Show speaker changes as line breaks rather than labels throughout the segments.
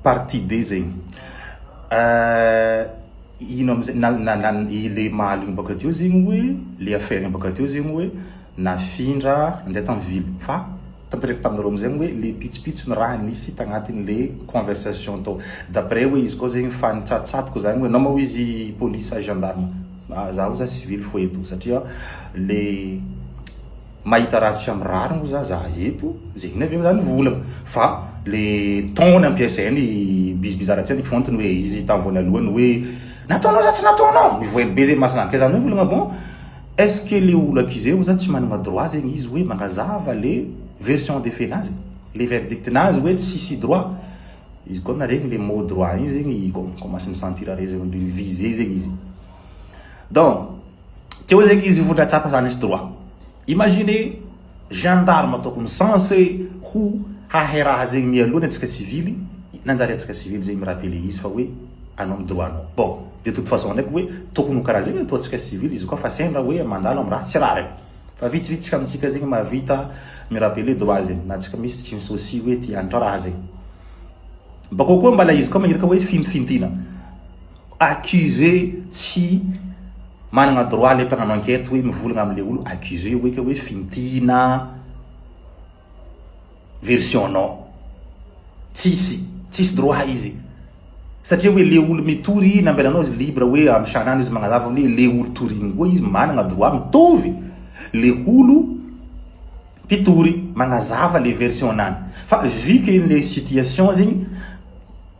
Partie D zegny eh, ino amizay na na na i le mahaligny baka teo zegny hoe le affaire-ny baka teo zegny hoe nafindra nandeha tam ville fa tantereko taminareo amizay hoe le pitsopitsony raha nisy tagnatiny le conversation tao d'après hoe izy koa zegny fa nitsatotsatoka zany hoe namao izy police sa gendarme, zaho za civil foeto satria le Mahita ratsy fa mirary moa za za eto, ze inona ve moa zany vola fa le ton nampiasainy Biz Bizarre tsy ny fontiny hoe izy tam voanalohany hoe nataonao sa tsy nataonao? Mivoely be ze masina kay zany hoe olagna bon est ce que le olaka izay oza tsy managna droit zegny izy hoe magnazava le version des faits nazy? le verdict nazy hoe tsisy droit? izy koa naregny le mot droit igny zegny i kômasy ni sentir à l'aise viser zegny izy donc Teo zay izy vao nahatsapa zany izy droit. Imaginez gendarme tokony censé ho hahay raha zegny mialoha ny antsika civil, nanjary antsika civil zegny mi rappeler izy fa hoe anao ny droit nao. Bon, de toute façon ndraiky hoe tokony ho karaha zegny ataontsika civil izy koa fa sendra hoe mandalo am raha tsy rariny. Fa vitsivitsy amintsika zegny mahavita mi rappeler droit zegny na antsika misy tsy mi soucie hoe ty hanitra raha zegny. Bakao koa mbala izy koa maherika hoe fintifintina. Accusé tsy managna droit le mpagnano enquête hoe mivolagna amle olo accusé hoe ka hoe fintina version nao. Tsisy, tsisy droit izy satria hoe le olo mitory nambelanao izy libre hoe am sagnagny izy magnazava hoe le olo torigny koa izy managna droit mitovy le olo mpitory magnazava le version nany fa vu que le situation zegny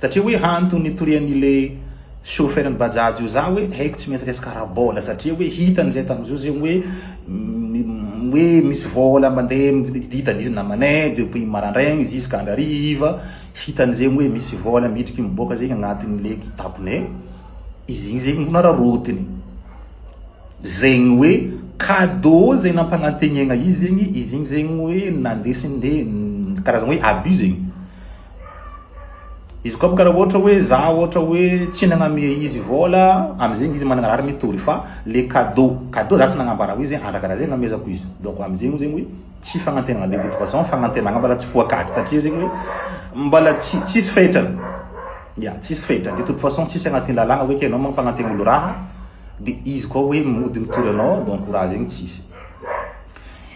Satria hoe hantony nitorian'ny le chauffeur ny bajaj io za hoe haiko tsy maintsy resaka ara-bola satria hoe hitany zay tamin'izao zegny hoe hoe misy vola mandeha hitany izy namane depuis marandraigny jusqu'à hariva hitany zegny hoe misy vola midriky miboaka zegny agnatiny le kitapone izy igny zegny no nararotiny zegny hoe cadeau zay nampanantegnaigna izy zegny izy igny zegny hoe nandesiny nde karazagna hoe abus zegny. Izy koa karaha ohatra hoe za ohatra hoe tsy nagname izy vola amizegny izy managna raha mitory fa le cadeau cadeau za tsy nagnambara hoe ze andra karaha ze namezako izy donc amizegny zegny hoe tsy fagnantenana de toute façon fagnantenana mbala tsy poakaty satria zegny hoe mbala tsy tsisy fetrany ya tsisy fetrany de toute façon tsisy agnaty lalagna hoe ke anao mampagnantena olo raha de izy koa hoe mody mitory anao donc raha zegny tsisy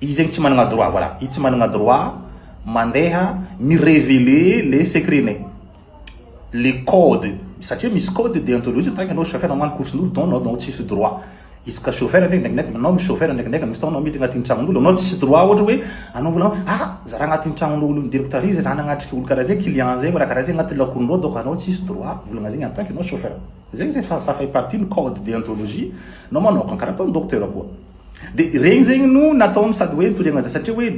Izy zegny tsy managna droit, voilà, izy tsy managna droit mandeha mi reveler le secret-nay, le code, satria misy code deontologie tant que anao chauffeur mamono koson'olo donc anao anao tsisy droit, izy ka chauffeur ndreky ndrekindreky anao misy chauffeur ndrekindreky misy fotoagna anao miditra agnatin'ny tragnon'olo anao tsisy droit ohatra hoe anao vola anao ah! za raha agnatin'ny tragnon'olo nidiriko tary zay za nagnatrika olo karaha zay client zay karaha zay agnaty lakonindreo donc anao tsisy droit volagna zegny en tant que anao chauffeur zegny zay fa ça fait partie ny code deontologie nao manokagna karaha ataon'ny docteur koa. De regny zegny no nataony sady hoe nitoriagna za satria hoe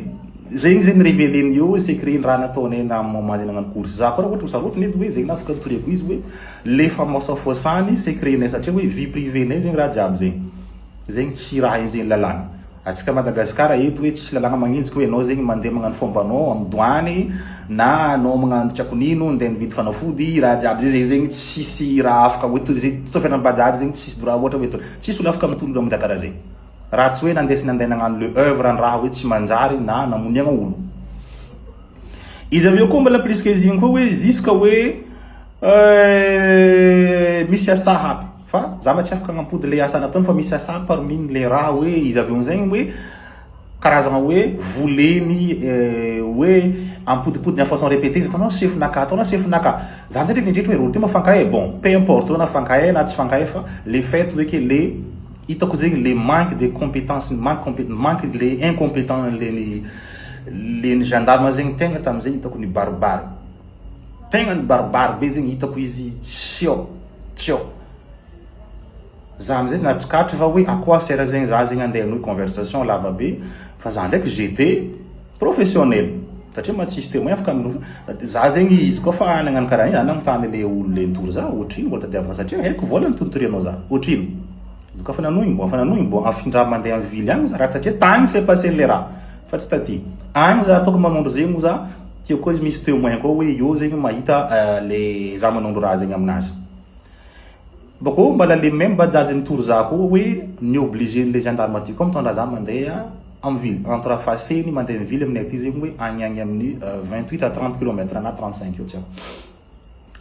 regny zegny reveleny eo secret ny raha nataonay namin'ny maman zay nagnano course za koa raha ohatra ho sarotiny edy hoe zegny na afaka nitoriako izy hoe le famaosafoasany secret-nay satria hoe vie privée-nay zegny raha jiaby zegny zegny tsy raha enjehin'ny lalàna atsika Madagascar eto hoe tsisy lalàna magnenjika hoe anao zegny mandeha magnano fombanao amin'ny douane na anao magnano tsy ako nino ndeha nividy fanafody raha jiaby zay zegny zegny tsisy raha afaka hoe toy izay toy fiainan'ny bajaj zegny tsisy droit ohatra hoe Tsisy olona afaka mitolona mnda karaha zay raha tsy hoe nandesiny anday nagnano le oeuvre an raha hoe tsy manjary na namoniagna olo. Izy avy eo koa mbola plus que izigny koa hoe jusque hoe euh misy asa haby fa za mba tsy afaka agnampody le asa nataony fa misy asa haby parmi ny le raha hoe izy avy eo amzay hoe Karazana hoe voleny hoe ampodimpodiny en façon repetee izy ataonao sefo naka ataonao sefo naka zany zany rehetra hoe rôti moa fankahy e bon peu importe hoe na fankahy na tsy fankahy fa le fait hoe ke le hitako zegny le manque de competence manque compé manque le incompetent leny leny gendarme zegny tegna tam'zegny hitako nibaribary tegna nibaribary be zegny hitako izy tsy ao tsy ao. Za amizay nahatsikaritra fa hoe à quoi sert zegny za zegny andeha hanohy conversation lava be fa za ndraiky j'etais professionnel satria mantsy tsisy témoin afaka mino fa za zegny izy koa fa nagnano karaha igny za nagnontany le olo le nitory za ohatrino vola tadiaviko satria haiko vola ny toritorianao za ohatrino izy koa fa nanohy mbo efa nanohy mbo afindra mande am ville agny za raha tsy satria tagny s'est passe le raha fa tsy taty agny za ataoko manondro zegny moa za tiako koa izy misy témoin koa hoe eo zegny mahita le za manondro raha zegny aminazy. Bakeo mbala le même bajaj mitory za koa hoe ni obligé ny le gendarme aty koa mitondra za mandeha am ville entre afase ni mandeha mivily aminay aty zegny hoe agny agny aminy vingt huit à trente kilomètre na trente cinq eo tsy aiko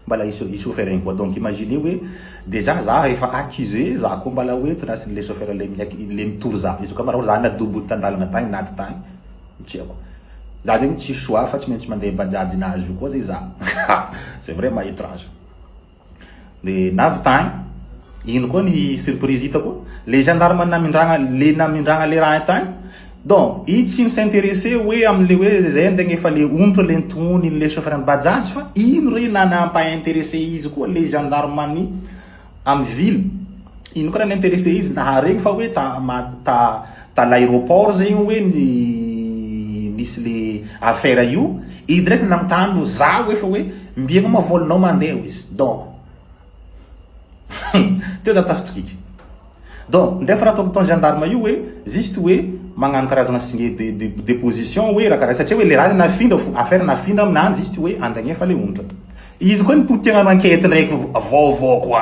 mbala i i chauffeur igny koa donc imaginez hoe dejà za efa accusé za koa mbala hoe tondrasin le chauffeur le miak le mitory za izy koa mbala hoe za na double tandalana tagny na aty tagny tsy aiko za zegny tsisy choix fa tsy maintsy mandeha bajaj nazy io koa zegny za c'est vraiment étrange. Dia nahavita hein. Ino koa ny surprise hitako? Le gendarme namindragna le namindragna le raha tagny donc i tsy mi s'intéresser hoe amle hoe zay ny tegna efa le onitra le nitohony le chauffeur ny bajaj fa ino re na nampa interesse izy koa le gendarme ny amy ville ino koa raha ni interesse izy naharegny fa hoe ta ma ta ta l'aeroport zay io hoe ny nisy le affaire io, i direct nanontany hoe za hoe fa hoe mby enao ma vol nao mandeha hoy izy donc teo za tafitokika donc ndray fa raha ataon'ny ton gendarme io hoe juste hoe magnano karazana signe de de de position hoe raha karaha satria hoe le raha zany nafindra fo affaire nafindra amin'any juste hoe andagnefa le onitra izy koa ny potegnano enquete ndraiky vaovao koa.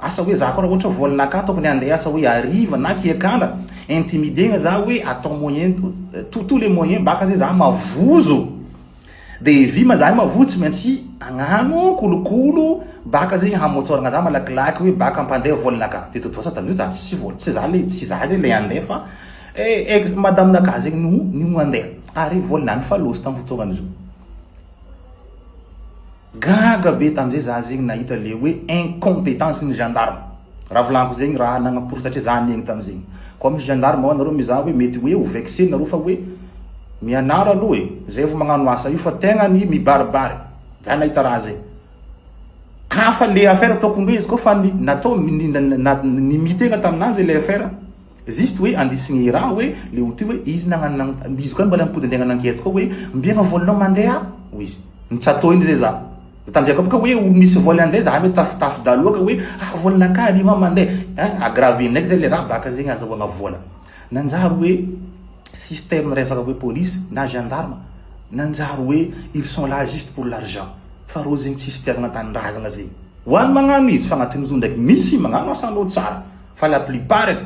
Asa hoe za koa ra ohatra vola naka tokony handeha hiasa hoe hariva na kiakala intimider-na za hoe atao moyen tout tout les moyens baka ze za mavozo de vy ma zahay mavozo tsy maintsy agnano kolokolo baka zegny hamotsoragna za malakilaky hoe baka ampandeha vola naka de totoasa taddio za tsisy vola tsy za le tsy za ze le handeha fa ex madame naka zegny no no handeha ary vola lany fa loza tam fotoagna zao. Gaga be tam zay za zegny nahita le hoe incompetence ny gendarme raha volagniky zegny raha nagnaporitsatria za niaigny tam zegny koa misy gendarme ao nareo mizaha hoe mety hoe ho vexer nareo fa hoe mianaro aloha e zay vo magnano asa io fa tegna ny mibaribary za nahita raha zay ka fa le affaire tokony hoe izy koa fa ny natao ny mitegna taminanjy le affaire Juste hoe andiso ny raha hoe le ho ty hoe izy nagnano nagn izy koa mba le mipody andeha nankety koa hoe mbiegna voly nao mandeha hoy izy ntsatô igny zay za de tamzay koa boka hoe ho misy voly andeha za hoe tafotafo dahalo ka hoe ah voly nakah ariva mande ein agravy ndraiky zay le raha baka zegny azahoagna vola nanjary hoe système resaka hoe police na gendarme nanjary hoe ils sont là juste pour l'argent fa reo zegny tsisy fitiavagna tanindrazagna zegny ho any magnano izy fa agnatin'izao ndraiky misy magnano asan'olo tsara Fa la plupart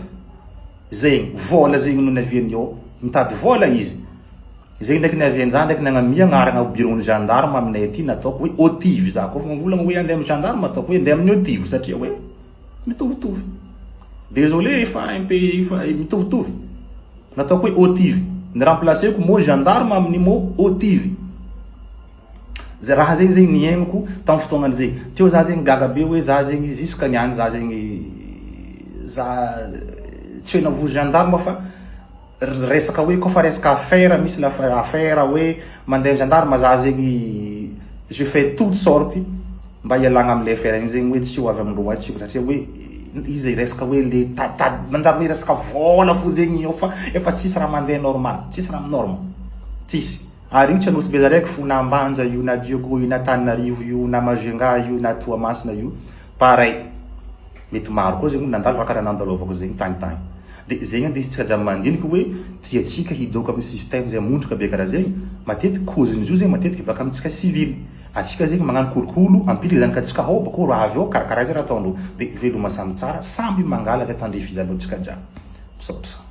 zegny vôla zegny no niaviany ao mitady vôla izy zegny ndraiky niavian-jaho ndraiky nagnamia agnarana ao bureau ny gendarme aminay aty na ataoko hoe OTIV za kôfa mivolagna hoe andeha amin'ny gendarme ataoko hoe andeha amin'ny OTIV satria hoe mitovitovy désolé fa un peu efa mitovitovy nataoko hoe OTIV ny remplacer-ko mot gendarme amin'ny mot OTIV Zay raha zegny zegny niaignako tam fotoagnany zay. Teo za zegny gaga be hoe za zegny jusque niany za zegny za tsy hoe navozo gendarme fa resaka hoe koa fa resaka affaire misy la affaire hoe mandeha am gendarme za zegny je fais toute sorte mba hialagna amle affaire igny zegny hoe tsy ho avy amindreo atsy io satria hoe izy resaka hoe le taditady manjary hoe resaka vola fo zegny eo fa efa tsisy raha mandeha normal tsisy raha norme tsisy. Ary io tsy anosy belareko fo na ambanja io na dioko io na taninarivo io na majunga io na toamasina io pareil mety maro koa zegny olo nandalo raha karaha nandalaovako zegny tagny tagny de zegny ande izy tsy aza mandiniky hoe tiatsika hidoaka aminy système zay mondroka be karaha zegny matetiky cause nizio zegny matetiky baka amitsika civil atsika zegny magnano kolokolo ampily zanaka tsika hao bakeo raha avy eo karaha karaha zay raha ataondreo de veloma samy tsara samby mangala zay tandrifiza andreo tsika jiaby misaotra.